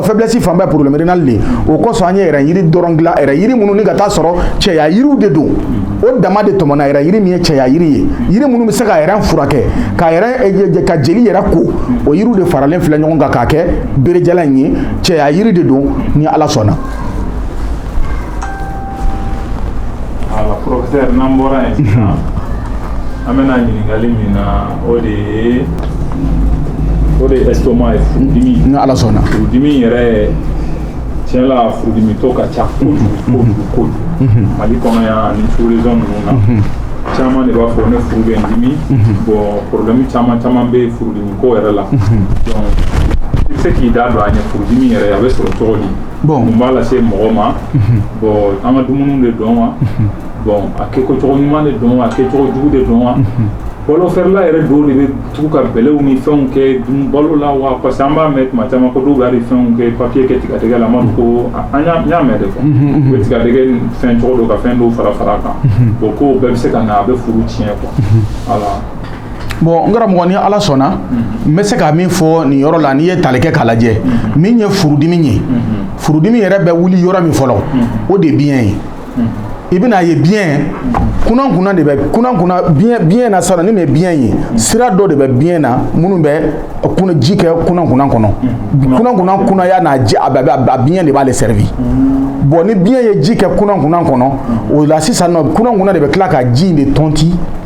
faiblesse fanba ye problème rénal de ye o kosɔn an ye rein yiri dɔrɔn dilan rein yiri minnu ni ka taa sɔrɔ cɛya yiriw de don o dama de tɔmɔna rein yiri min ye cɛya yiri ye yiri minnu bɛ se ka rein furakɛ ka jeli yɛrɛ ko o yiriw de faralen filɛ ɲɔgɔn kan k'a kɛ berejalan in ye cɛya yiri de don ni ala sɔnna Voilà professeur n'an bɔra yen an bɛna ɲininkali min na o de ye o de ye estomac ye furudimi ni ala sɔnna furudimi yɛrɛ tiɲɛ la furudimitɔ ka ca kojugu mali kɔnɔ yan ani sous-région ninnu na caman de b'a fɔ ne furu bɛ n dimi bɔn problème caman caman bɛ furudimi ko yɛrɛ la donc i bɛ se k'i da don a ɲɛ furudimi yɛrɛ a bɛ sɔrɔ cogo di bɔn mun b'a lase mɔgɔ ma bɔn an ka dumuni de don wa bɔn a kɛko cogo ɲuman de don wa a kɛcogo jugu de don wa balo feerela yɛrɛ dɔw de bɛ tugu ka bɛlɛw ni fɛnw kɛ balo la wa parce que an b'a mɛn tuma caman ko dɔw bɛ hali fɛnw kɛ papiye kɛ tigadɛgɛ la an b'a fɔ ko an y'a mɛn de quoi u bɛ tigadɛgɛ fɛn cogo dɔ ka fɛn dɔw fara fara a kan bɔn ko bɛɛ bɛ se ka na a bɛ furu tiɲɛ quoi voilà bɔn n karamɔgɔ ni ala sɔnna n bɛ se ka min fɔ nin yɔrɔ la n'i ye tali kɛ k'a lajɛ min ye furudimi ye furudimi yɛrɛ bɛ wuli yɔrɔ min fɔlɔ o de biɲɛ ye i bɛna a ye biɲɛ kunankunan de bɛ kunankunan biɲɛ biɲɛ na sisan ni nin ye biɲɛ ye sira dɔ de bɛ biɲɛ na minnu bɛ kunan ji kɛ kunankunan kɔnɔ kunankunan kunaya n'a ji a bɛɛ a biɲɛ de b'ale servir bɔn ni biɲɛ ye ji kɛ kunankunan kɔnɔ o la sisan nɔ kunankunan de bɛ tila ka ji in de tɔnti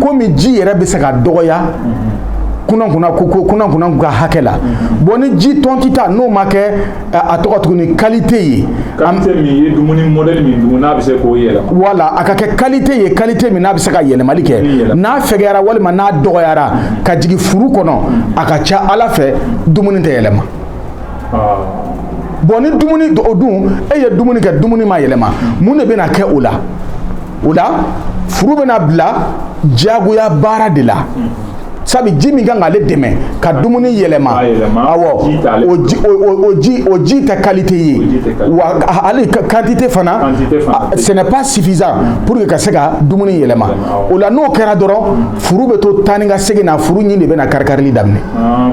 komi ji yɛrɛ bɛ se ka dɔgɔya kunankunan kɔnɔ kunankunan ka hakɛ la bon ni ji tɔntita n'o ma kɛ a tɔgɔ tuguni kalite ye kalite min ye dumuni mɔdɛli min dun n'a bɛ se k'o yɛlɛma wala a ka kɛ kalite ye kalite min n'a bɛ se ka yɛlɛmali kɛ n'a fɛgɛyara walima n'a dɔgɔyara ka jigin furu kɔnɔ a ka ca a la fɛn dumuni tɛ yɛlɛma bɔn ni dumuni o dun e ye dumuni kɛ dumuni ma yɛlɛma mun de bɛna kɛ o la o la furu bɛna bila diyagoya baara de la sabu ji min ka kan k'ale dɛmɛ ka dumuni yɛlɛma awɔ o ji o ji tɛ kalite ye wa hali kantite fana ce n'est pas suffisant pour que ka se ka dumuni yɛlɛma o la n'o kɛra dɔrɔn furu bɛ to taa ni ka segin na furu ɲin de bɛna karikarili daminɛ ah,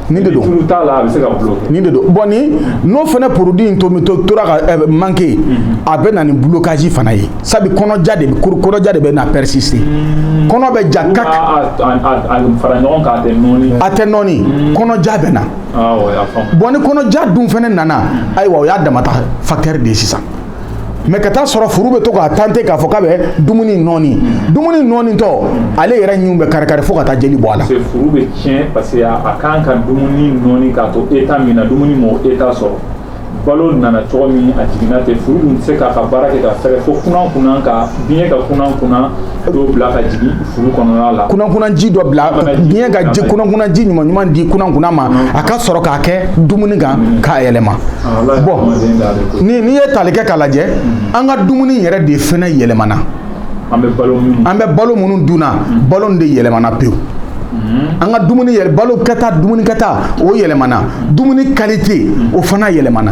Nin de don bɔn ni n'o fana produit in to bɛ to tora ka manquer a bɛ na ni blocage fana ye sabu kɔnɔja de bɛna persister kɔnɔ bɛ ja kak a tɛ nɔɔni kɔnɔja bɛ na bɔn ni kɔnɔja dun fana nana ayiwa o y'a dama ta facteur de sisan mais ka taa sɔrɔ furu bɛ to k'a tenter k'a fɔ k'a bɛ dumuni nɔɔni dumuni nɔɔnitɔ ale yɛrɛ ɲinw bɛ karikari fo ka taa jeli bɔ a la furu bɛ tiɲɛ parce que a kan ka dumuni nɔɔni k'a to état min na dumuni m'o état sɔrɔ balo nana cogo min a jiginna ten furu dun tɛ se k'a ka baara kɛ ka fɛrɛ fo kunankunan ka biɲɛ ka kunankunan dɔ bila ka jigin furu kɔnɔna la kunankunanji dɔ bila biɲɛ ka ji kunankunanji ɲuman ɲuman di kunankunan ma a ka sɔrɔ k'a kɛ dumuni kan k'a yɛlɛma ah, bon ni n'i ye tali kɛ k'a lajɛ mm. an ka dumuni yɛrɛ de fɛnɛ yɛlɛmana an bɛ balo minnu dunna mm. balo de yɛlɛmana pewu mm. an ka dumuni yɛrɛ balo kɛta dumuni kɛta o yɛlɛmana dumuni qualité o fana yɛlɛmana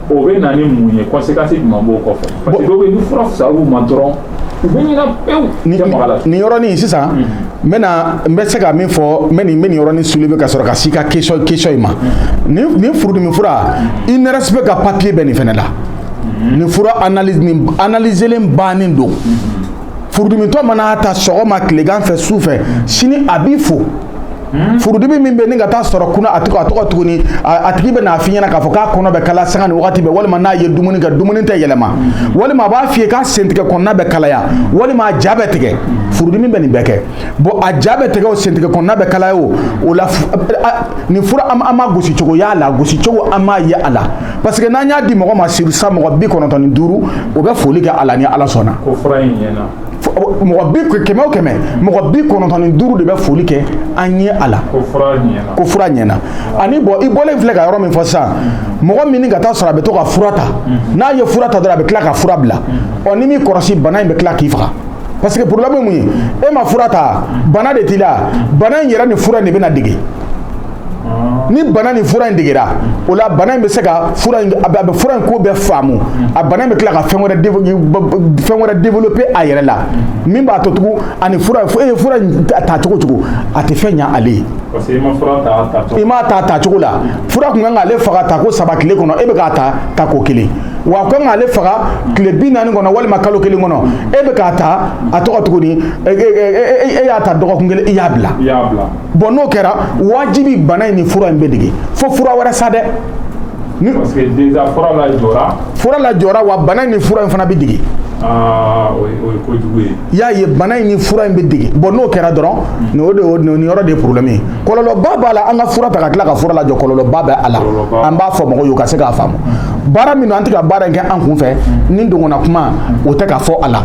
o bɛ na ni mun ye conséquence jumɛn b'o kɔfɛ parce que dɔw bɛ yen ni fura fisayara u ma dɔrɔn u bɛ ɲina pewu nin tɛ maga la nin yɔrɔnin sisan n bɛna n bɛ se ka min fɔ n bɛ nin n bɛ nin yɔrɔnin soulever ka sɔrɔ ka s'i ka question question in ma nin nin furudimi fura INRSP ka papier bɛ nin fɛnɛ la nin fura analyse nin analyselen bannen don furudimitɔ man'a ta sɔgɔma tilegan fɛ su fɛ sini a b'i fo Hmm? furudimi min bɛ ni ka taa sɔrɔ kunna a tɔgɔ a tɔgɔ tuguni a tigi bɛ n'a f'i ɲɛna k'a fɔ k'a kɔnɔ bɛ kalaya sanga ni wagati bɛɛ walima n'a ye dumuni kɛ dumuni tɛ yɛlɛma hmm. walima a b'a f'i ye k'a sentigɛ kɔnɔna bɛ kalaya walima a ja bɛ tigɛ furudimi bɛ nin bɛɛ kɛ bon a ja bɛ tigɛ o sentigɛ kɔnɔna bɛ kalaya o o la nin fura an ma gosi cogo y'a la gosi cogo an m'a ye a la parce que n'an y'a di mɔgɔ ma sur cent mɔgɔ bi kɔnɔntɔn ni duuru o bɛ foli kɛ a la ni Ala sɔnna. mɔgɔ bi kɛmɛ o kɛmɛ mɔgɔ bi kɔnɔntɔn ni duuru de bɛ foli kɛ an ye a la ko fura ɲɛna ani bon i bɔlen filɛ ka yɔrɔ min fɔ sisan mɔgɔ min ka taa sɔrɔ a bɛ to ka fura ta mhm. n'a ye fura ta dɔrɔn a bɛ tila ka fura bila mhm. ɔ n'i m'i kɔrɔsi bana in bɛ tila k'i faga parce que problème ye mun ye e ma fura ta bana de t'i la bana in yɛrɛ ni fura in de bɛna dege ni bana ni fura in degera o la bana in bɛ se ka fura in a bɛ fura in ko bɛɛ faamu a bana in bɛ tila ka fɛn wɛrɛ fɛn wɛrɛ développer a yɛrɛ la min b'a to tugun ani fura e ye fura in ta cogo o cogo a tɛ fɛn ɲa ale ye i m'a ta ta cogo la fura kun kan k'ale faga ta ko saba tile kɔnɔ e bɛ k'a ta ta ko kelen wa a kan k'ale faga tile bi naani kɔnɔ walima kalo kelen kɔnɔ e bɛ k'a ta a tɔgɔ tuguni e y'a ta dɔgɔkun kelen i y'a bila bon n'o kɛra wajibi bana in ni fura in bɛ dege fo fura wɛrɛ sa dɛ fura lajɔra wa bana in ni fura in fana bɛ dege ah, y'a ye bana in ni fura in bɛ dege bon n'o kɛra dɔrɔn hmm. o de nin yɔrɔ de ye problème ye kɔlɔlɔba b'a la an ka fura ta ka tila ka fura lajɔ kɔlɔlɔba bɛ a la an b'a fɔ mɔgɔw ye u ka se k'a faamu hmm. baara min an tɛ ka baara in kɛ an kun fɛ ni dongona kuma o tɛ ka fɔ a la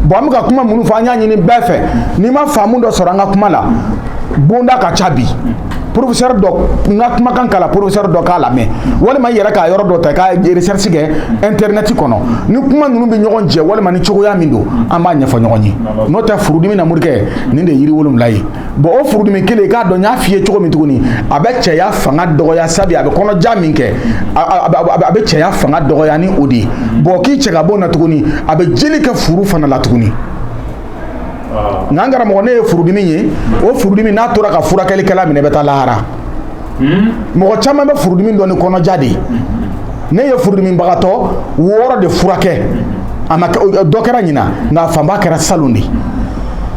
bɔn an bɛ ka kuma minnu fɔ an y'a ɲini bɛɛ fɛ n'i ma faamu dɔ sɔrɔ an ka kuma la bonda ka ca bi professeur dɔ n ka kumakan k'a la professeur dɔ k'a lamɛn walima i yɛrɛ k'a yɔrɔ dɔ ta ka recherche kɛ internet kɔnɔ ni kuma ninnu bɛ ɲɔgɔn jɛ walima ni cogoya min don an b'a ɲɛfɔ ɲɔgɔn ye n'o tɛ furudimi na morikɛ nin de ye yiri wolonwula ye bɔn o furudimi kelen i k'a dɔn n y'a f'i ye cogo min tuguni a bɛ cɛya fanga dɔgɔya sabu a bɛ kɔnɔja min kɛ a bɛ cɛya fanga dɔgɔya ni o de ye bɔn k'i cɛ ka bɔ na tuguni a bɛ jeli kɛ furu fana la tuguni nka n karamɔgɔ nin ye furudimi ye o furudimi n'a tora ka furakɛlikɛla minɛ bɛ taa lahara mɔgɔ caman bɛ furudimi dɔn ni kɔnɔja de ye ne ye furudimibagatɔ wɔɔrɔ de furakɛ a ma dɔ kɛra ɲinan nka a fanba kɛra salon de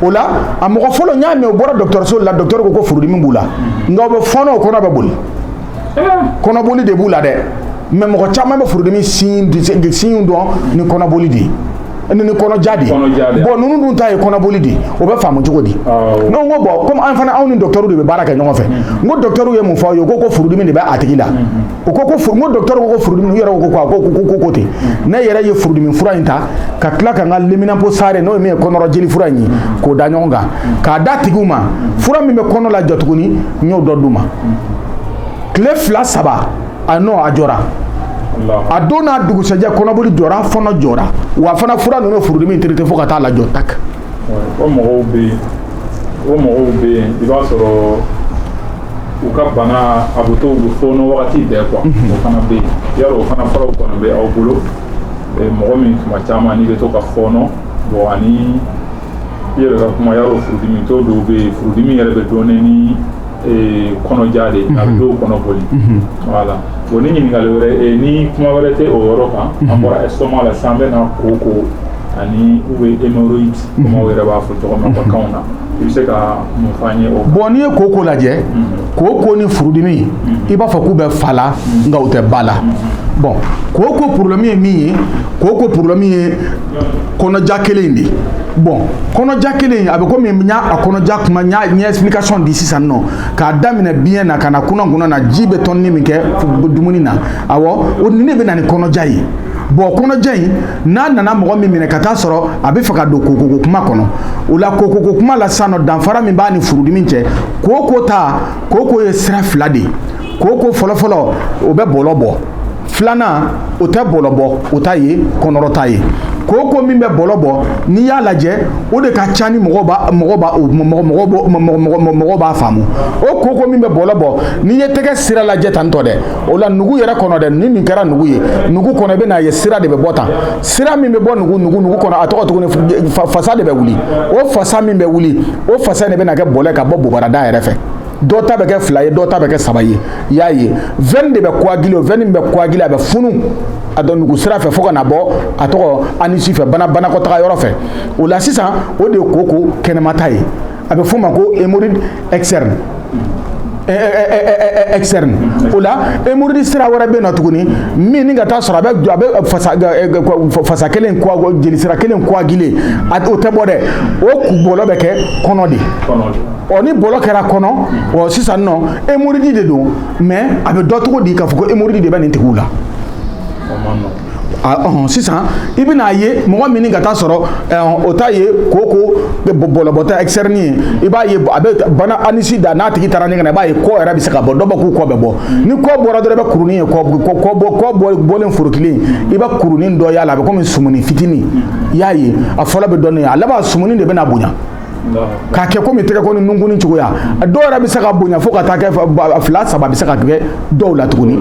o la a mɔgɔ fɔlɔ n y'a mɛn o bɔra docteur so la docteur ko ko furudimi b'u la nka u bɛ fɔɔnɔ u kɔnɔ bɛ boli kɔnɔboli de b'u la dɛ mais mɔgɔ caman bɛ furudimi signe dɔn ni kɔnɔboli de ye ni ni kɔnɔja de ye bɔn ninnu dun ta ye kɔnɔboli de ye o bɛ faamu cogo di ne ko bɔn komi an fana anw ni docteur de bɛ baara kɛ ɲɔgɔn fɛ n ko docteur ye mun fɔ aw ye u ko ko furudimi de bɛ a tigi la u ko ko n ko docteur ko ko furudimi u yɛrɛ ko ten ne yɛrɛ ye furudimi fura in ta ka tila ka n ka leminanpo sare n'o ye min ye kɔnɔrɔ jeli fura in ye k'o da ɲɔgɔn kan k'a d'a tigiw ma fura min bɛ kɔnɔ lajɔ tuguni n y'o dɔ d'u ma tile fila saba a n'o a jɔra a don n'a dugusɛjɛ kɔnɔboli jɔra fɔɔnɔ jɔra wa fana fura ninnu furudimi traité fo ka taa lajɔ tak o mɔgɔw bɛ yen o mɔgɔw bɛ yen i b'a sɔrɔ u ka bana a bɛ to u bɛ fɔɔnɔ wagati bɛɛ quoi mhm. o fana bɛ yen yala o fana furaw kɔni bɛ aw bolo mɔgɔ min tuma caman n'i bɛ to ka fɔɔnɔ bɔn ani i yɛrɛ ka kuma yala furudimitɔ dɔw bɛ yen furudimi yɛrɛ bɛ dɔn ni kɔnɔja de a bɛ dɔw kɔnɔ boli voilà bon ni ɲininkali wɛrɛ ni kuma wɛrɛ tɛ o yɔrɔ kan an bɔra estomac la sisan an bɛ na koko ani u bɛ hémorroïde comme aw yɛrɛ b'a fɔ cogo min kanw na i bɛ se ka mun fɔ an ye o bɔn n'i ye koko lajɛ koko ni furudimi i b'a fɔ k'u bɛ fa la nka u tɛ ba la bɔn koko problème ye min ye koko problème ye kɔnɔja kelen in de bɔn kɔnɔja kelen a bɛ komi n y'a a kɔnɔja kuma n y'a ɲɛ explication di sisan nɔ k'a daminɛ biɲɛ na ka na kunankunan na ji bɛ tɔni min kɛ dumuni na awɔ o nin de bɛ na ni kɔnɔja ye bɔn kɔnɔja in n'a nana mɔgɔ min minɛ ka taa sɔrɔ a bɛ fɛ ka don koko ko kuma kɔnɔ o la koko ko kuma la sisan nɔ danfara min b'a ni furudimi cɛ koko ta koko ye sira fila de ye koko fɔlɔfɔlɔ o bɛ bɔlɔ bɔ filanan o tɛ bɔlɔ bɔ o ta ye kɔnɔrɔta ye koko min bɛ bɔlɔ bɔ n'i y'a lajɛ o de ka ca ni mɔgɔ b'a faamu o koko min bɛ bɔlɔ bɔ n'i ye tɛgɛ sira lajɛ tan tɔ dɛ o la nugu yɛrɛ kɔnɔ dɛ ni nin kɛra nugu ye nugu kɔnɔ i bɛn'a ye sira de bɛ bɔ tan sira min bɛ bɔ nugu nugu nugu kɔnɔ a tɔgɔ tuguni fasa de bɛ wuli o fasa min bɛ wuli o fasa de bɛ na kɛ bɔlɔ ye ka bɔ bobarada yɛrɛ fɛ dɔ ta bɛ kɛ fila ye dɔ ta bɛ kɛ saba ye i y'a ye veine de bɛ coaguler o veine min bɛ coaguler a bɛ funu a don nugu sira fɛ fo ka na bɔ a tɔgɔ anus fɛ banakɔtaga yɔrɔ fɛ o la sisan o de ye koko kɛnɛmata ye a bɛ f'o ma ko hémorroïde externe externe o la hémorroïde sira wɛrɛ bɛ yen nɔ tuguni min n'i ka taa sɔrɔ a bɛ a bɛ fasa fasa kelen coagu jeli sira kelen coaguler o tɛ bɔ dɛ o bɔlɔ bɛ kɛ kɔnɔ de ɔ ni bɔlɔ kɛra kɔnɔ ɔ sisan nɔ hémorroïde de don mais a bɛ dɔn cogo di k'a fɔ ko hémorroïde de bɛ nin tigiw la ɔhɔn sisan i bɛna ye mɔgɔ min ka taa sɔrɔ o ta ye koko bɔlɔbɔta externe ye i b'a ye a bɛ bana anus da n'a tigi taara ɲɛgɛn na i b'a ye kɔ yɛrɛ bɛ se ka bɔ dɔ bɛ k'u kɔ bɛ bɔ ni kɔ bɔra dɔrɔn i bɛ kurunin ye kɔ kɔ bɔ kɔ bɔ bɔlen forokilen i bɛ kurunin dɔ y'a la a bɛ komi sumuni fitinin i y'a ye a fɔlɔ bɛ dɔɔnin a laban sumuni de bɛna bonya k'a kɛ komi tɛgɛkɔni nunkun cogoya a dɔw yɛrɛ bɛ se ka bonya fo ka taa kɛ fila saba bɛ se ka kɛ dɔw la tuguni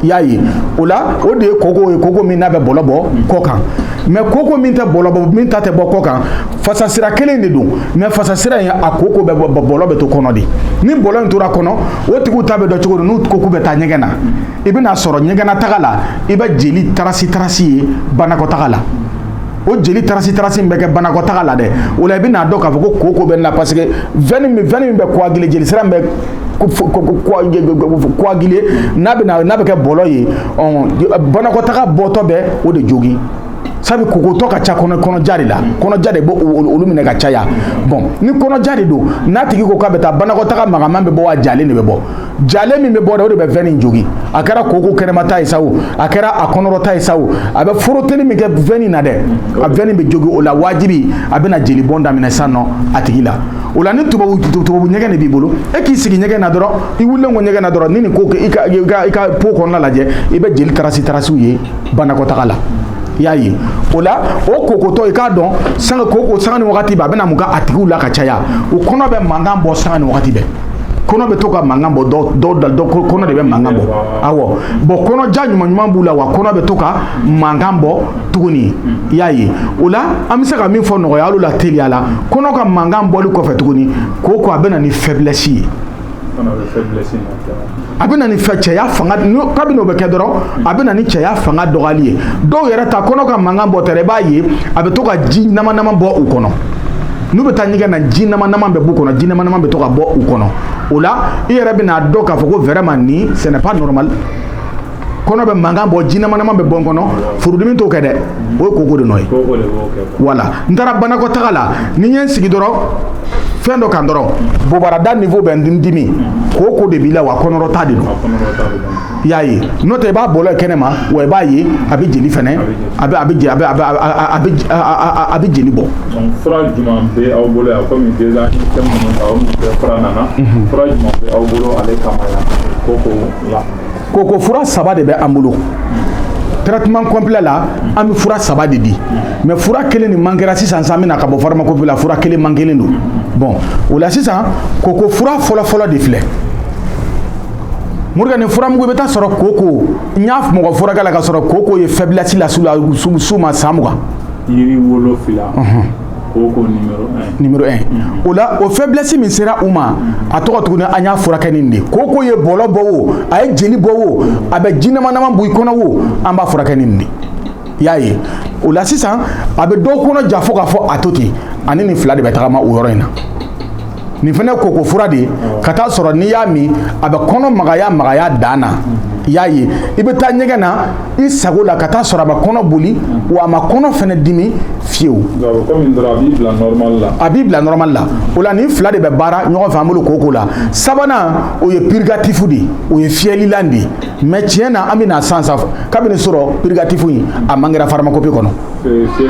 i y'a ye o la o de ye koko ye koko min n'a bɛ bɔlɔ bɔ kɔ kan mais koko min tɛ bɔlɔ bɔ min ta tɛ bɔ kɔ kan fasasira kelen de don mais fasasira in a koko bɛ bɔ bɔlɔ bɛ to kɔnɔ de ni bɔlɔ in tora kɔnɔ o tigiw ta bɛ dɔn cogo di n'u ko k'u bɛ taa ɲɛgɛn na i bɛna sɔrɔ ɲɛgɛnnataga la i bɛ jeli tarasi tarasi ye banakɔtaga la o jeli tarasi tarasi min bɛ kɛ banakɔtaga la dɛ o la i bɛn'a dɔn k'a fɔ ko koko bɛ nin na parce que veine min bɛ coaguler jeli sira min bɛ coaguler n'a bɛ kɛ bɔlɔ ye banakɔtaga bɔtɔ bɛ o de jogin sabu kokotɔ ka ca kɔnɔja de la kɔnɔja de b' olu minɛ ka caya bon ni kɔnɔja de don n'a tigi ko k'a bɛ taa banakɔtaa magaman bɛ bɔ wa jalen de bɛ bɔ jalen min bɛ bɔ dɛ o de bɛ veine in jogin a kɛra koko kɛnɛmata ye sa o a kɛra a kɔnɔrɔta ye sa o a bɛ foroteli min kɛ veine in na dɛ a veine in bɛ jogin o la wajibi a bɛna jeli bɔn daminɛ sisan nɔ a tigi la o la ni tubabu tubabu ɲɛgɛn de b'i bolo e k'i sigi ɲɛgɛn na dɔrɔn i wulilen kɔ ɲɛgɛn na dɔrɔn ni nin ko kɛ i ka i ka i ka pot kɔnɔna lajɛ i bɛ jeli tarasi tarasiw ye banakɔtaga la i y'a ye o la o kokotɔ i k'a dɔn sanga koko sanga ni wagati bɛɛ a bɛna mun kɛ a tigiw la ka caya u kɔnɔ bɛ mankan bɔ sanga ni wagati bɛɛ kɔnɔ bɛ to ka mankan bɔ dɔ kɔnɔ de bɛ mankan bɔ awɔ bon kɔnɔja ɲuman ɲuman b'u la wa kɔnɔ bɛ to ka mankan bɔ tuguni i y'a ye o la an bɛ se ka min fɔ nɔgɔya hali la teliya la kɔnɔ ka mankan bɔli kɔfɛ tuguni koko a bɛ na ni faiblesse ye a bɛ na ni fɛ cɛya fanga kabini o bɛ kɛ dɔrɔn a bɛ na ni cɛya fanga dɔgɔyali ye dɔw yɛrɛ ta kɔnɔ ka mankan bɔ tɛrɛ i b'a ye a bɛ to ka ji nama nama bɔ u kɔnɔ n'u bɛ taa ɲɛgɛn na ji nama nama bɛ b'u kɔnɔ ji nama nama bɛ to ka bɔ u kɔnɔ o la i yɛrɛ bɛ n'a dɔn k'a fɔ ko vraiment nin ce n'est pas normal kɔnɔ bɛ mankan bɔ ji nama nama bɛ bɔ n kɔnɔ furudimi t'o kɛ dɛ o ye koko de nɔ ye voilà n taara banakɔtaga la ni n ye n sigi dɔrɔn fɛn dɔ kan dɔrɔn bobarada niveau bɛ n dimi koko de b'i la wa kɔnɔrɔta de don y'a ye n'o tɛ i b'a bɔlɔ kɛnɛma wa i b'a ye a bɛ jeli fɛnɛ a a bɛ jeli bɔ Koko fura saba de bɛ an bolo traitement complet la an bɛ fura saba de di mais fura kelen nin manquera sisan sisan an bɛna ka bɔ pharmacopée la fura kelen manquelen don bon o la sisan koko fura fɔlɔfɔlɔ de filɛ Morikɛ nin furamugu i bɛ taa sɔrɔ koko n y'a mɔgɔ furakɛ la ka sɔrɔ koko ye faiblesse las'u las'u ma san mugan yiri wolonfila o la o faiblesse min sera u ma a tɔgɔ tuguni an y'a furakɛ nin de koko ye bɔlɔ bɔ o a ye jeli bɔ o a bɛ ji nama nama bɔ i kɔnɔ o an b'a furakɛ nin de y'a ye o la sisan a bɛ dɔw kɔnɔ ja fo k'a fɔ a to ten ani nin fila de bɛ tagama o yɔrɔ in na nin fana koko fura de ka taa sɔrɔ n'i y'a min a bɛ kɔnɔ magaya magaya dan na i y'a ye i bɛ taa ɲɛgɛn na i sago la ka taa sɔrɔ a ma kɔnɔ boli wa a ma kɔnɔ fana dimi fiyewu a b'i bila normal la o la nin fila de bɛ baara ɲɔgɔn fɛ an bolo koko la sabanan o ye purgatif de o ye fiyɛlilan de mais tiɲɛ na an bɛna san sanfɛ kabini sɔrɔ purgatif in a manquera pharmacopée kɔnɔ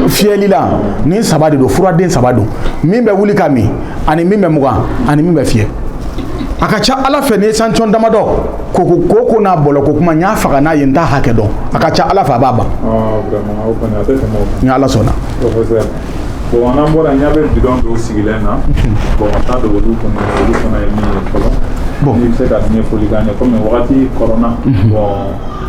fiyɛlilan nin saba de don furaden saba don min bɛ wuli ka min ani min bɛ mugan ani min bɛ fiyɛ a ka ca ala fɛ n'i ye sancɔn damadɔ ko koko n'a bɔlɔ ko kuma n y'a faga n'a ye n t'a hakɛ dɔn a ka ca ala fɛ a b'a ban ni ala sɔnna bɔn n'an bɔra n ɲa bɛ bidɔn dɔw sigilen na bɔn an t'a dɔn olu kɔnɔ olu fana ye min ye fɔlɔ n'i bɛ se ka ɲɛfɔli k'an ye kɔmi wagati kɔrɔna bɔn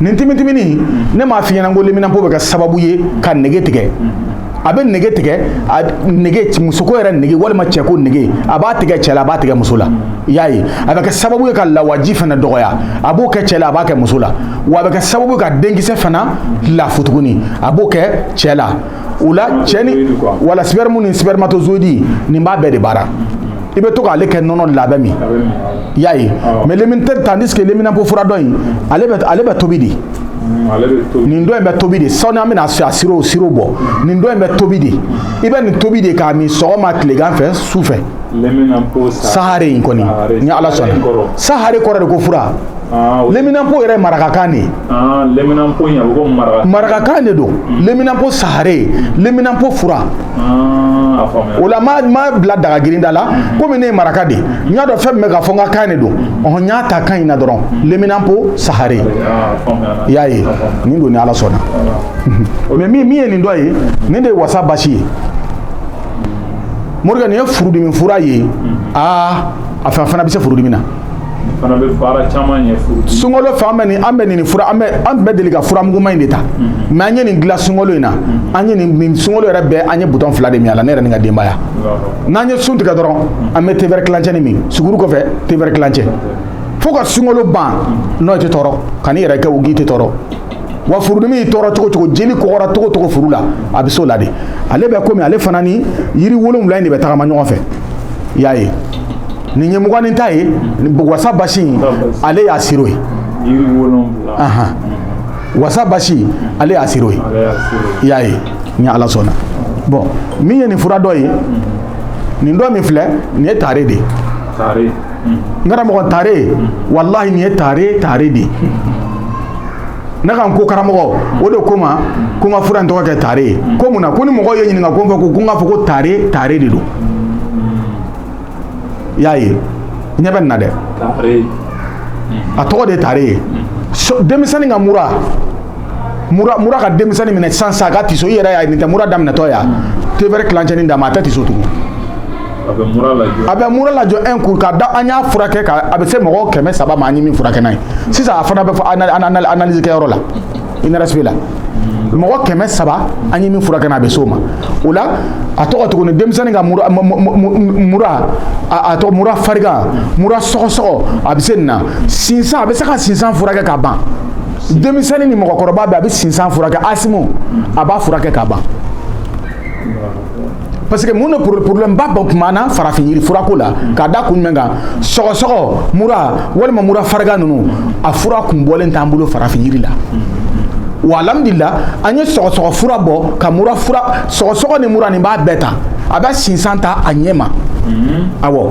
nin timitimini ne m'a f'i ɲɛ na ko leminanpo bɛ kɛ sababu ye ka nege tigɛ a bɛ nege tigɛ a nege musoko yɛrɛ nege walima cɛko nege a b'a tigɛ cɛ la a b'a tigɛ muso la i y'a ye a bɛ kɛ sababu ye ka lawaji fana dɔgɔya a b'o kɛ cɛ la a b'a kɛ muso la wa a bɛ kɛ sababu ye ka denkisɛ fana lafu tuguni a b'o kɛ cɛ la o la cɛ ni wala sperme ni spermatozoïde nin b'a bɛɛ de baara i bɛ to k'ale kɛ nɔnɔ la b'a min i y'a ye mais lemini tandis que leminanpo fura dɔ in ale bɛ ale bɛ tobi de nin dɔ in bɛ tobi de sani an bɛna a siro siro bɔ nin dɔ in bɛ tobi de i bɛ nin tobi de k'a min sɔgɔma tilegan fɛ su fɛ sahare in kɔni ni ala sɔnna sahare kɔrɔ de ko fura Ah, leminanpo yɛrɛ marakakan de ah, marakakan de don hmm. leminanpo sahare leminanpo fura ah, o la ma bila dagagirinda la hmm. komi ne ye maraka de n y'a dɔn fɛn bɛ ka fɔ n ka kan de don hmm. ɔhɔn n y'a ta kan in na dɔrɔn leminanpo sahare i y'a ye nin don ni ala sɔnna mais min min ye nin dɔ ye nin de ye wasa basi ye morikɛ nin ye furudimi fura ye aa a fana bɛ se furudimi na fana bɛ baara caman ɲɛ furu sunkalo fɛ an bɛ nin an bɛ nin fura an bɛ an tun bɛ deli ka fura muguma in de ta mais an ye nin dilan sunkalo in na an ye nin sunkalo yɛrɛ bɛɛ an ye butɔn fila de min a la ne yɛrɛ ni ka denbaya n'an ye sun tigɛ dɔrɔn an bɛ tevɛrɛ kilancɛnin min suguru kɔfɛ tevɛrɛ kilancɛ fo ka sunkalo ban n'o tɛ tɔɔrɔ ka n'i yɛrɛ kɛ u k'i tɛ tɔɔrɔ wa furudimi y'i tɔɔrɔ cogo cogo jeli kɔgɔra cogo cogo furu la a bɛ s'o la de ale bɛ komi ale fana ni yiri wolonwula in de bɛ tagama ɲɔgɔn fɛ i y'a ye nin ye mugan ni ta ye wasa basi in ale y'a siro ye wasa basi ale y'a siro ye i y'a ye ni ala sɔnna bon min ye nin fura dɔ ye nin dɔ min filɛ nin ye tare de ye n karamɔgɔ tare walahi nin ye tare tare de ye ne ka n ko karamɔgɔ o de ko n ma ko n ka fura in tɔgɔ kɛ tare ye ko mun na ko ni mɔgɔw ye n ɲininka ko n fɛ ko ko n k'a fɔ ko tare tare de don i y'a ye ɲɛ bɛ nin na dɛ a tɔgɔ de ye tare ye denmisɛnnin ka mura mura mura ka denmisɛnnin minɛ sisan sisan a ka tiso i yɛrɛ y'a ye nin tɛ mura daminɛtɔ ye a tevɛrɛ tilancɛnin d'a ma a tɛ tiso tugun a bɛ mura lajɔ a bɛ mura lajɔ un coup k'a da an y'a furakɛ ka a bɛ se mɔgɔ kɛmɛ saba ma an ye min furakɛ n'a ye sisan a fana bɛ fo analyse kɛyɔrɔ la INRSP la mɔgɔ kɛmɛ saba an ye min furakɛ a bɛ s'o ma o la a tɔgɔ tuguni denmisɛnnin ka mura mura a tɔgɔ mura farigan mura sɔgɔsɔgɔ a bɛ se nin na sinsan a bɛ se ka sinsan furakɛ ka ban denmisɛnnin ni mɔgɔkɔrɔba bɛɛ a bɛ sinsan furakɛ asthme a b'a furakɛ ka ban parce que mun de problème ba bɔ kuma na farafin yiri furako la k'a da kun jumɛn kan sɔgɔsɔgɔ mura walima mura farigan ninnu a fura kun bɔlen t'an bolo farafin yiri la wa alhamdulila an ye sɔgɔsɔgɔ fura bɔ ka mura fura sɔgɔsɔgɔ ni mura nin b'a bɛɛ ta a bɛ sinsan ta a ɲɛ ma awɔ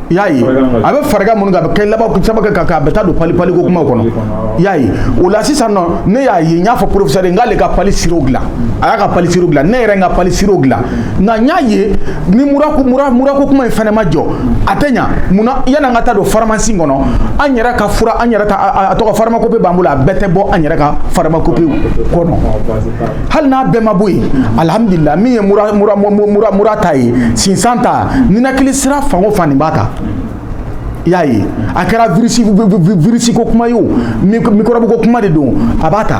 I y'a ye a bɛ farigan minnu a bɛ kɛ laban sabu kɛ kan a bɛ taa don pali paliko kuma kɔnɔ y'a ye o la sisan ne y'a ye n y'a fɔ professeur n k'ale ka pali siro dilan a y'a ka pali siro dilan ne yɛrɛ n ka pali siro dilan nka n y'a ye ni murako kuma in fana ma jɔ a tɛ ɲɛ munna yan'an ka taa don faramasin kɔnɔ an yɛrɛ ka fura an yɛrɛ a tɔgɔ pharmacopée b'an bolo a bɛɛ tɛ bɔ an yɛrɛ ka pharmacopée kɔnɔ hali n'a bɛɛ ma bɔ yen alihamudulila min ye mura ta ye sinsan ta ninakili sira fan o fan nin b'a ta i y'a ye a kɛra virisi ko kuma ye o mikɔrɔbu ko kuma de don a b'a ta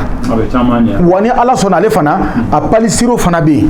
wa ni ala sɔnna ale fana a palisiro fana bɛ yen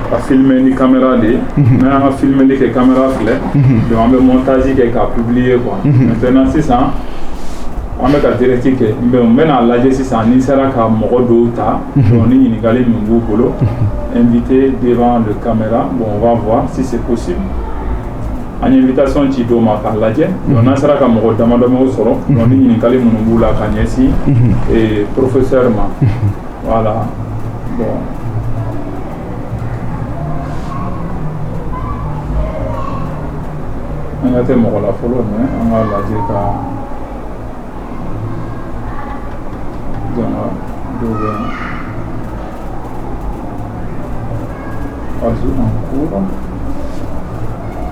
k'a filmé ni caméra de ye mhm. n'an y'an ka filmeli kɛ caméra filɛ mhm. donc an bɛ montage kɛ k'a publier quoi mhm. maintenant sisan an bɛ ka direct kɛ mais n bɛn'a lajɛ sisan ni n sera ka mɔgɔ dɔw ta donc ni ɲininkali min b'u bolo invité devant le caméra bon on va voir si c'est possible an ye invitation ci dɔw ma k'a lajɛ donc n'an sera ka mɔgɔ damadamaw sɔrɔ donc ni ɲininkali minnu b'u la k'a ɲɛsin professeur ma Voilà bon an ka tɛ mɔgɔ la fɔlɔ mais an k'a lajɛ ka jama dɔw bɛ yan ajout en cours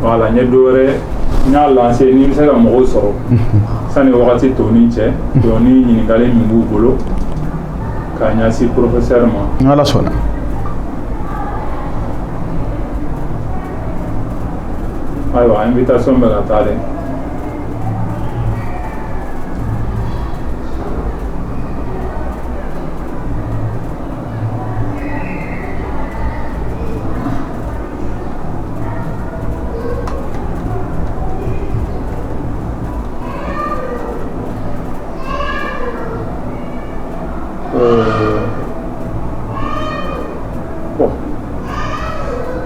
voilà n ye dɔ wɛrɛ n y'a lancé ni n bɛ se ka mɔgɔw sɔrɔ sani wagati dɔɔnin cɛ donc ni ɲininkali min b'u bolo k'a ɲɛsin professeur ma n'ala sɔnna ayiwa invitation bɛ ka taa dɛ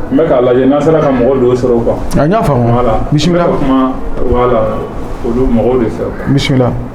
N bɛ k'a lajɛ n'a sera ka mɔgɔ dɔw sɔrɔ quoi n y'a faamu, bisimila, voilà n bɛ ka kuma olu mɔgɔw de fɛ quoi, bisimila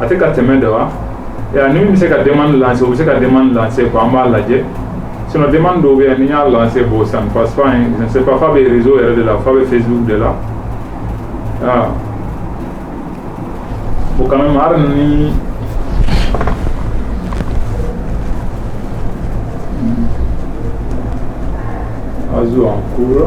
a tɛ ka tɛmɛ dɔ wa ni bɛ se ka den lase u bɛ se ka den lase ko an b'a lajɛ sina den dɔw bɛ yan ni y'a lase bɔ san pa se pa fa bɛ zo yɛrɛ de la fa bɛ fɛ z de la o kana ma ni a zo an kura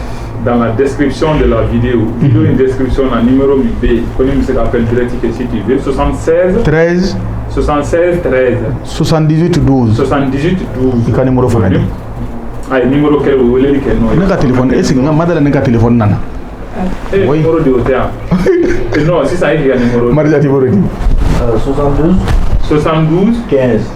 dans la description de la vidéo, vidéo in description na numéro bɛ, comme i bɛ se k'a appeler direct si tu veux, 76 13 76 13 78 12 78 12 i ka numéro fana di a ye numéro kɛ o weleli kɛ n'o ye ne ka téléphone est ce que madala ne ka téléphone nana e ye numéro di o tɛ yan non sisan e k'i ka numéro Marija numéro di 72 72 15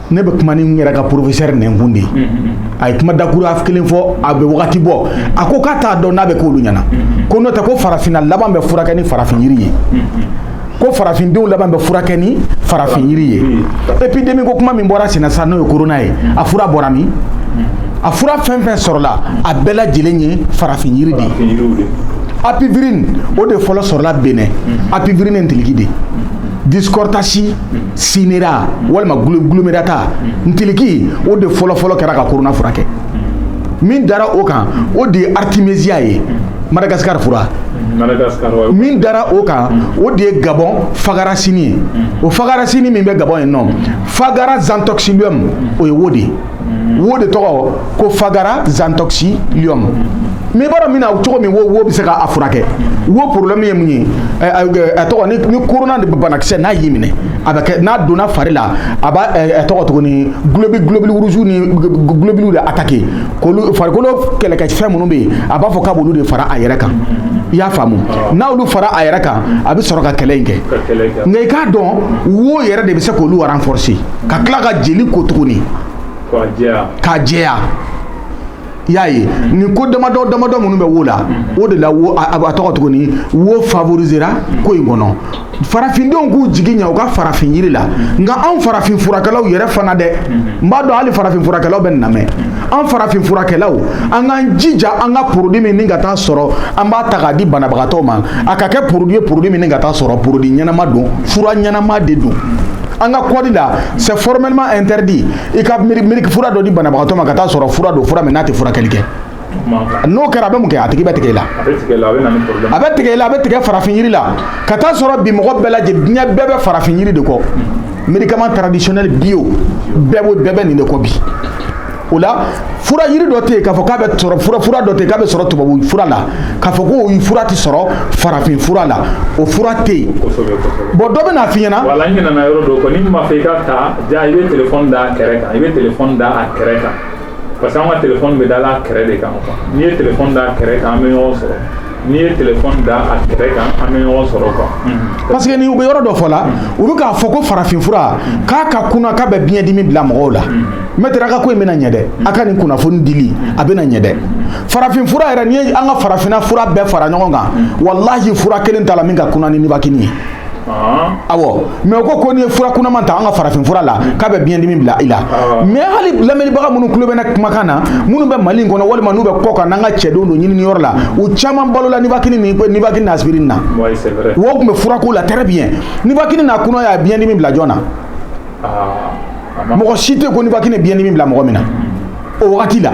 ne bɛ kuma ni n yɛrɛ ka professeur nɛnkun de ye a ye kuma dakura kelen fɔ a bɛ wagati bɔ a ko k'a t'a dɔn n'a bɛ k'olu ɲɛna ko n'o tɛ ko farafinna laban bɛ furakɛ ni farafin yiri ye ko farafindenw laban bɛ furakɛ ni farafin yiri ye epidemi ko kuma min bɔra senna sisan n'o ye corona ye a fura bɔra min a fura fɛn fɛn sɔrɔla a bɛɛ lajɛlen ye farafin yiri de ye apivirine o de fɔlɔ sɔrɔla Bénin apivirine ntiliki de dichrostachys cinerea walima glomerata ntiliki o de fɔlɔfɔlɔ kɛra ka corona furakɛ min dara o kan o de ye artemisia ye Madagascar fura min dara o kan o de ye Gabon fagaricine ye o fagaricine min bɛ Gabon yen n'o fagara zanthoxylum o ye wo de ye wo de tɔgɔ ko fagara zanthoxylum mais i b'a dɔn min na cogo min wo wo bɛ se ka a furakɛ wo problème ye mun ye a tɔgɔ ni ni corona de banakisɛ n'a y'i minɛ a bɛ kɛ n'a donna fari la a b'a tɔgɔ tuguni globi globule rouge ni globules de attaquer k'olu farikolo kɛlɛkɛfɛn minnu bɛ yen a b'a fɔ k'a b'olu de fara a yɛrɛ kan i y'a faamu n'olu fara a yɛrɛ kan a bɛ sɔrɔ ka kɛlɛ in kɛ nka i k'a dɔn wo yɛrɛ de bɛ se k'olu renforcer ka tila ka jeli ko tuguni k'a jɛya i y'a ye nin ko damadɔ damadɔ minnu bɛ wo la o de la a b'a tɔgɔ tuguni wo favorisera ko in kɔnɔ farafindenw k'u jigiya u ka farafin yiri la nka anw farafin furakɛlaw yɛrɛ fana dɛ n b'a dɔn hali farafin furakɛlaw bɛ n lamɛn an farafin furakɛlaw an k'an jija an ka porodi min ni ka taa sɔrɔ an b'a ta k'a di banabagatɔ ma a ka kɛ porodi ye porodi min ni ka taa sɔrɔ porodi ɲɛnama don fura ɲɛnama de don an ka kɔdi la c'est formellement interdit i ka miiri ka fura dɔ di banabagatɔ ma ka taa sɔrɔ fura don fura min n'a tɛ furakɛli kɛ n'o kɛra a bɛ mun kɛ a tigi bɛ tigɛ i la a bɛ tigɛ i la a bɛ tigɛ farafin yiri la ka taa sɔrɔ bi mɔgɔ bɛɛ lajɛlen diɲɛ bɛɛ bɛ farafin yiri de kɔ médicament traditionnel bio bɛɛ b'o bɛɛ bɛ nin de kɔ bi o la fura yiri dɔ tɛ yen k'a fɔ k'a bɛ sɔrɔ fura fura dɔ tɛ yen k'a bɛ sɔrɔ tubabu fura la k'a fɔ k'o fura tɛ sɔrɔ farafin fura la o fura tɛ yen bon dɔ bɛn'a f'i ɲɛna. voilà n ɲinɛna yɔrɔ dɔ kɔ n'i b'a fɛ i ka ta ja i bɛ telefɔni da a kɛrɛ kan i bɛ telefɔni da a kɛrɛ kan parce que an ka telefɔni bɛ da a kɛrɛ de kan n'i ye telefɔni da a kɛrɛ kan an bɛ ɲɔgɔn sɔrɔ. n'i ye telefɔni da a kɛrɛ kan an bɛ ɲɔgɔn sɔrɔ quoi mm-hmm. parce que ni u bɛ yɔrɔ dɔ fɔ la mm-hmm. u bɛ k'a fɔ ko farafinfura mm-hmm. k'a ka kunan k'a bɛ biɲɛdimi bila mɔgɔw la maître a ka ko in bɛna ɲɛ dɛ a ka nin kunnafoni dili a bɛna ɲɛ dɛ farafinfura yɛrɛ n'i ye an ka farafinna fura bɛɛ fara ɲɔgɔn kan walahi fura kelen t'a la min ka kunan ni nibakini ye awɔ mais u ko ko n'i ye fura kunaman ta an ka farafin fura la k'a bɛ biɲɛdimi bila i la mais hali lamɛnnibaga minnu tulo bɛ ne kumakan na minnu bɛ mali in kɔnɔ walima n'u bɛ kɔ kan n'an ka cɛdenw don ɲinini yɔrɔ la u caman balola nibakini ni nibakini n'asipirini na o tun bɛ fura k'u la très bien nibakini n'a kunaya biɲɛdimi bila jɔn na mɔgɔ si tɛ ko nibakini biɲɛdimi bila mɔgɔ min na o wagati la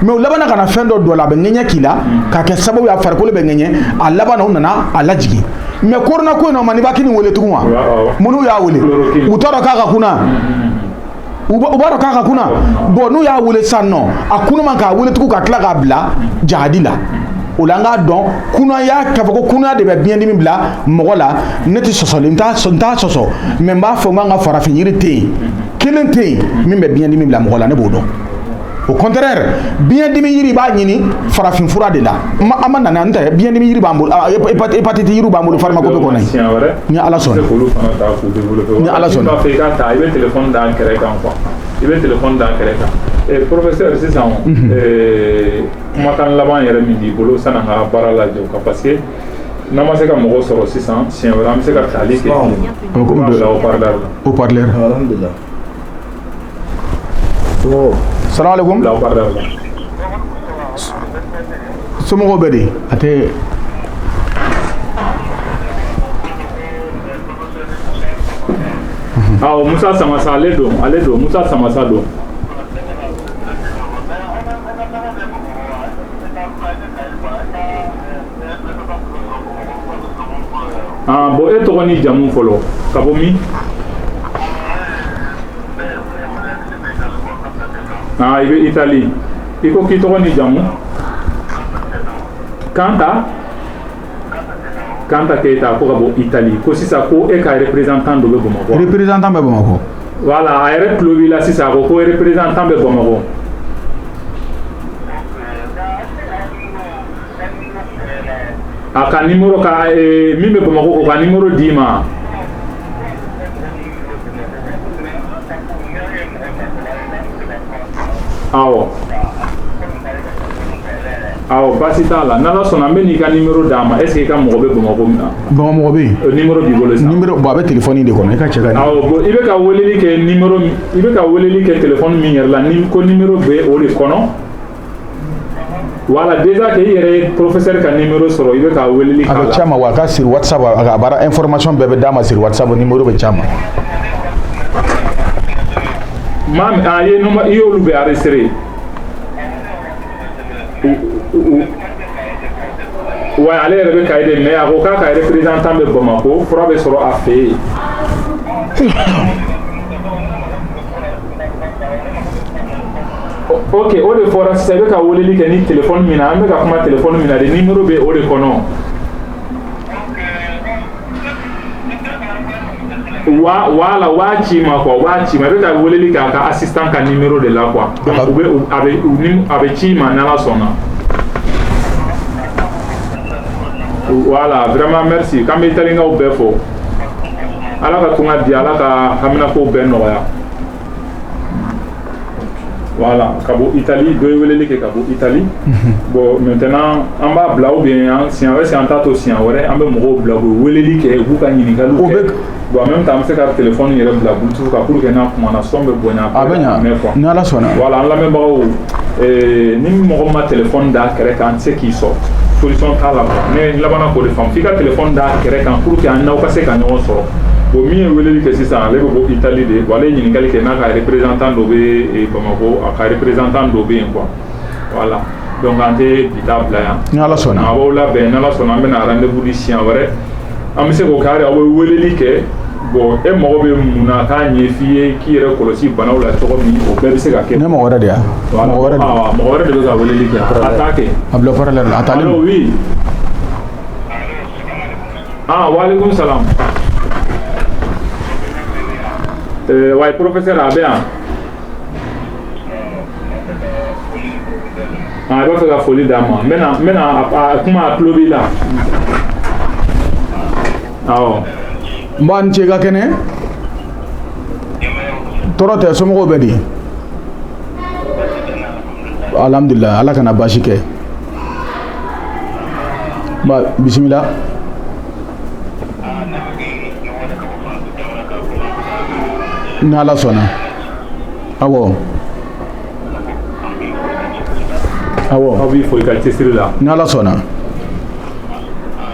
mais u labanna ka na fɛn dɔ don a la a bɛ ŋɛɲɛ k'i la k'a kɛ sababu ye a farikolo bɛ ŋɛɲɛ a laban na u nana a lajigin mais korona ko in na u ma nibakini wele tugun wa minnu y'a wele u t'a dɔn k'a ka kunan u b'a dɔn k'a ka kunan bon n'u y'a wele san nɔ a kunaman k'a wele tugun ka tila k'a bila jahadi la o la an k'a dɔn kunaya k'a fɔ ko kunaya de bɛ biɲɛdimi bila mɔgɔ la ne tɛ sɔsɔli n t'a sɔsɔ mais n b'a fɔ n k'an ka farafin yiri tɛ yen kelen tɛ yen min bɛ biɲɛdimi bila mɔgɔ la ne b'o dɔn au contraire biɲɛdimi yiri b'a ɲini farafin fura de la an ma nana n tɛ biɲɛdimi yiri b'an bolo hépatite yiri b'an bolo pharmacopée kɔnɔ ni ala sɔnna ni ala sɔnna i bɛ kan i bɛ telefɔni d'a kɛrɛ kan professeur sisan kumakan laban yɛrɛ min b'i bolo sanni an ka baara lajɔ quoi parce que N'an ma se ka mɔgɔ sɔrɔ sisan siɲɛ wɛrɛ an bɛ se ka tali kɛ haut-parleur salamu alayikum somɔgɔw bɛ di a tɛ musa samasa ale don ale don musa samasa don Aa bon e tɔgɔ ni jamu fɔlɔ ka bɔ min i bɛ Italie i ko k'i tɔgɔ ni jamu kan Kanta keyita ko ka bɔ Italie ko sisan ko e ka représentant dɔ bɛ bamakɔ représentant bɛ bamakɔ voilà a yɛrɛ tulo b'i la sisan a ko ko représentant bɛ bamakɔ a ka nimero ka min bɛ bamakɔ k'o ka nimero d'i ma awɔ awɔ basi t'a la n'ala sɔnna an bɛn'i ka nimero d'a ma est-ce que i ka mɔgɔ bɛ bamakɔ min na bamakɔ mɔgɔ bɛ yen euh, nimero b'i bolo sisan nimero bon a bɛ telefɔni de kɔnɔ i ka cɛ ka awɔ bon i bɛ ka weleli kɛ nimero i bɛ ka weleli kɛ telefɔni min yɛrɛ la ni ko nimero bɛ o de kɔnɔ Wala den kɛ i yɛrɛ ye porosɛri ka ni sɔrɔ i bɛ ka wele a bɛ ca ma wa a ka siri wa a bara e fɔrɔmasi bɛɛ bɛ d'a ma siri wasa ni mori bɛ ca ma maa ye i y'olu bɛ ari siri wa ale yɛrɛ bɛ ka de mɛ a ko k'a ka yɛrɛ pere tan bɛ bamakɔ ko fura bɛ sɔrɔ a fɛ yen ok o de fɔra sisan i bɛ ka weleli kɛ ni telefɔni min na an bɛ ka kuma telefɔni min na de nimero bɛ o de kɔnɔ voilà u b'a ci i ma quoi u b'a ci i ma i bɛ ka weleli kɛ a ka assistant ka nimero de la quoi donc u bɛ a bɛ u ni a bɛ ci i ma n'ala sɔnna voilà vraiment merci k'an bɛ italikaw bɛɛ fo. ala ka tunga di ala ka haminako bɛɛ nɔgɔya voilà ka bɔ itali dɔ ye weleli kɛ ka bɔ itali mhm. bon maintenant an b'a bila ou bien an siɲɛ wɛrɛ si an t'a to siɲɛ wɛrɛ an bɛ mɔgɔw bila u bɛ weleli kɛ u b'u ka ɲininkaliw kɛ bon en même temps an bɛ se ka téléphone yɛrɛ bila bluetooth kan pour que n'a kumana son bɛ bonya a bɛ ɲa mɛn quoi ni ala sɔnna voilà an lamɛnbagaw ni mɔgɔ ma téléphone da kɛrɛ kan an tɛ se k'i sɔrɔ solution t'a la ne labanna k'o de faamu i ka téléphone da kɛrɛ kan pour que an n'aw ka se ka ɲɔgɔn sɔrɔ bon min ye weleli kɛ sisan ale bɛ bɔ itali de wa ale ye ɲininkali kɛ n'a ka représentant dɔ bɛ bamakɔ a ka représentant dɔ bɛ yen quoi voilà donc an tɛ bi ta bila yan ni ala sɔnna a b'aw labɛn ni ala sɔnna an bɛna rendez-vous di siɲɛ wɛrɛ an bɛ se k'o kɛ aw bɛ weleli kɛ Bon e mago bɛ mun na k'a ɲɛ f'i ye k'i yɛrɛ kɔlɔsi banaw la cogo min o bɛɛ bɛ se ka kɛ ne mɔgɔ wɛrɛ de mɔgɔ wɛrɛ de bɛ ka weleli kɛ a kɛ a bila parleur la a taa oui waaleykum salam wa professeur a bɛ yan a b'a fɛ ka foli d'a ma n bɛna kuma a tulo b'i la nba i ni ce ka kɛnɛ tɔɔrɔ tɛ somɔgɔw bɛ di alhamdulillah ala kana baasi kɛ bisimila ni ala sɔnna awɔ awɔ an b'i fo i ka cɛsiri la ni ala sɔnna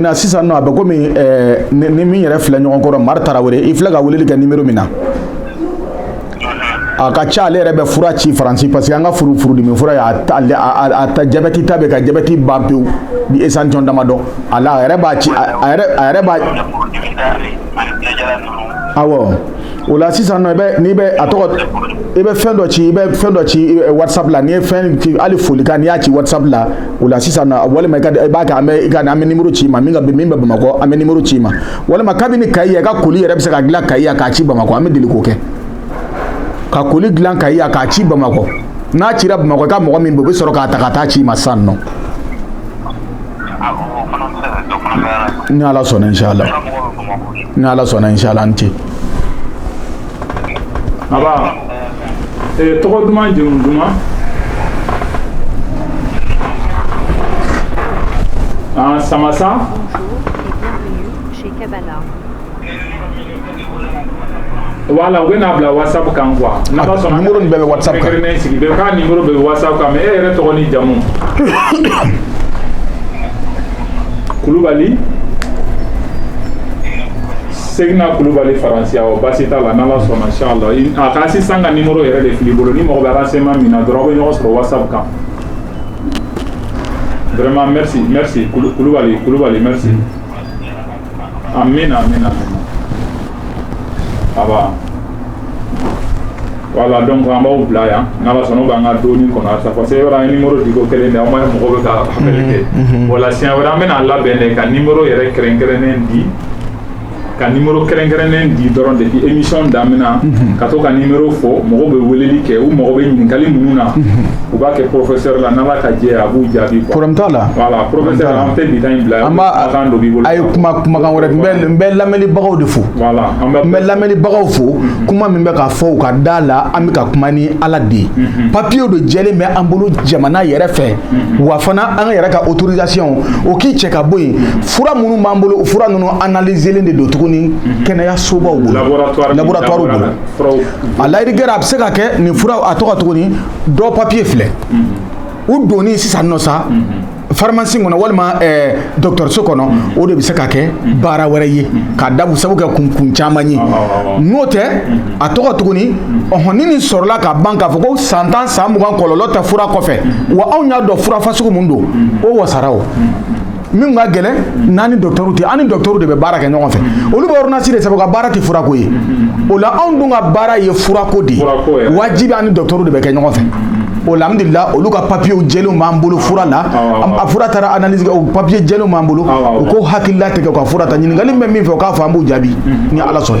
na sisan nɔ a bɛ kɔmi ni min yɛrɛ filɛ ɲɔgɔn kɔrɔ mari tarawele i filɛ ka weleli kɛ numéro min na a ka ca ale yɛrɛ bɛ fura ci faransi parce que an ka furu furudimi fura jabɛti ta bɛ ka jabɛti ban pewu ni échantillon damadɔ a yɛrɛ b'a ci a yɛrɛ b'a awɔ o la sisan nɔ i bɛ n'i bɛ a tɔgɔ i bɛ fɛn dɔ ci i bɛ fɛn dɔ ci whatsapp la n'i ye fɛn ci hali folikan n'i y'a ci whatsapp la o la sisan nɔ walima i ka i b'a kɛ an bɛ i ka an bɛ nimoro ci i ma min ka min bɛ bamakɔ an bɛ nimoro ci i ma walima kabini kayi yan i ka koli yɛrɛ bɛ se ka dilan kayi yan k'a ci bamakɔ an bɛ deli k'o kɛ ka koli dilan kayi yan k'a ci bamakɔ n'a cira bamakɔ i ka mɔgɔ min bɛ yen o bɛ sɔrɔ k'a ta ka taa ci i ma sisan nɔ ni ala sɔnna inshala ni ala sɔnna inshala an ce a tɔgɔ duman jamu duman samasa wala u b'a bila whatsapp kan quoi n'ala sɔnna nimoro nin bɛɛ bɛ whatsapp kan bɛɛ ka nimoro bɛ whatsapp kan mais e yɛrɛ tɔgɔ ni jamu kulubali segina kulubali faransi awɔ basi t'a la n'ala sɔnna inshallah a ka assistant ka nimoro yɛrɛ de fil'i bolo ni mɔgɔ bɛ renseignement min na dɔrɔn aw bɛ ɲɔgɔn sɔrɔ whatsapp kan vraiment merci merci kulubali kulubali merci Amina, amina, amina. Aba. Wala donc an b'aw bila yan n'ala sɔnna u b'an ka dɔɔni kɔnɔ halisa parce que yɔrɔ an ye nimoro di ko kelen de aw ma ye mɔgɔ bɛ ka appel kɛ o la siɲɛ wɛrɛ an bɛna labɛn de ka nimoro yɛrɛ kɛrɛnkɛrɛnnen di ka nimoro kɛrɛnkɛrɛnnen di dɔrɔn depuis émission daminɛ ka to ka nimoro fɔ mɔgɔw bɛ weleli kɛ u mago bɛ ɲininkali minnu na u b'a kɛ professeur la n'ala ka jɛ ye a b'u jaabi quoi problème t'a la voilà ye kuma kumakan wɛrɛ n bɛ lamɛnlibagaw de fo n bɛ lamɛnlibagaw fo mhm. kuma min bɛ ka fɔ u ka da la an bɛ ka kuma ni ala de ye mhm. papiyew de jɛlen bɛ an bolo jamana yɛrɛ fɛ mhm. wa fana an yɛrɛ ka autorisation o k'i cɛ ka bɔ yen fura minnu b'an bolo fura ninnu analyselen de don tuguni kɛnɛyasobaw bolo laboratoire bolo a layiri kɛra a bɛ se ka kɛ nin fura a tɔgɔ tuguni dɔ papiye filɛ u donni sisan nɔ sa faramasi kɔnɔ walima dɔgɔtɔrɔso kɔnɔ o de bɛ se ka kɛ baara wɛrɛ ye ka da sababu kɛ kun kun caman ye n'o tɛ a tɔgɔ tuguni ɔɔn ni nin sɔrɔla ka ban k'a fɔ ko san tan san mugan kɔlɔlɔ tɛ fura kɔfɛ wa anw y'a dɔn fura fasugu min don o wasara o min ka gɛlɛn n'an ni docteur tɛ an ni docteur de bɛ baara kɛ ɲɔgɔn fɛ olu bɛ ordonnance de sɛbɛn u ka baara tɛ furako ye o la anw dun ka baara ye furako de ye wajibi an ni docteur de bɛ kɛ ɲɔgɔn fɛ o la alhamdulila olu ka papiyew jɛlenw b'an bolo fura la a fura taara analyse kɛ o papiye jɛlenw b'an bolo u k'u hakili latigɛ u ka fura ta ɲininkali min bɛ min fɛ o k'a fɔ an b'u jaabi ni Ala sɔnna